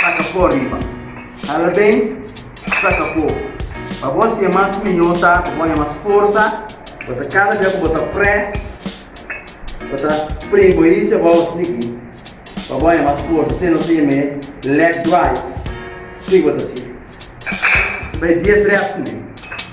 saka pó riba. Hala ben, saka pó. Pa bo hacié mas mihó ta cu bo haña mas forza, bo ta cada dia cu bo ta press, bo ta prim bo hincha bo aos niki pa bo haña mas forza, asina no ta yam'é leg drive, su y bo ta hacié. Su bay dies reps, mi.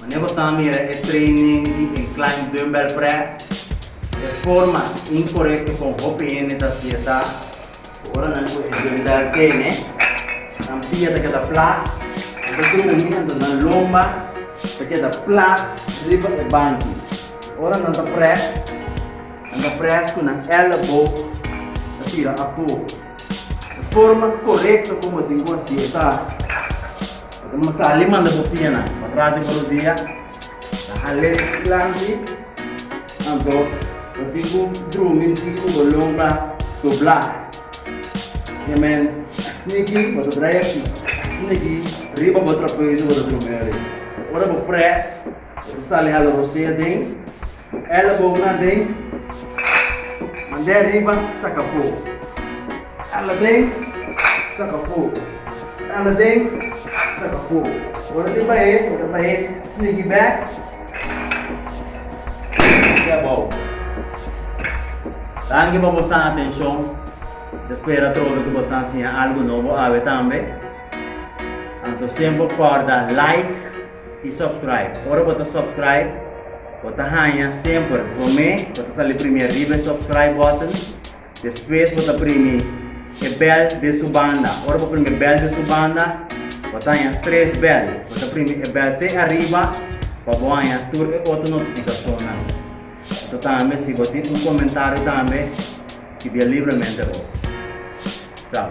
Mane bo ta mira e training di incline dumbbell press? E forma incorecto con hopi hende ta haci'e ta cu ora nan cu e dumbbell tene, nan pia ta keda plat, nan ta drumi, entos nan lomba ta keda plat riba e banki. Ora nan ta press, nan ta press cu nan elleboog ta tira afo. E forma korekto ku bo tin ku hasi e ta, Ora bo sali manda bo pianan pa tras i pa rodia ta hal'é planti, anto bo tin ku drumi tin ku bo longa doblá. Ke men sniki bo ta tra'i aki, a sniki riba bo trapezu bo ta drumi orit. Ora bo près bo ta sali hala rosea den. Elebow na den, mand'é riba, saka po. Ela den, saka po. Ela den, saka po. Ora di bae, ora bae, snigi bek, snigi abou. Danki pa bo stan atenshon. Ta spera trobe ku bo stan siña algu nobo awe tambe. Anto siemper kòrda like. y subscribe. Ora bo ta subscribe bo ta haña semper prome, bo ta sali prime riba e subscribe button, despues bo ta primi e bel den su banda, ora bo primi e bel den su banda bo ta haña tres bel, bo ta primi e bel te ariba pa bo haña tur e otro notificacionnan. Anto tambe si bo tin un comentario tambe scibia libremente bo. Chao.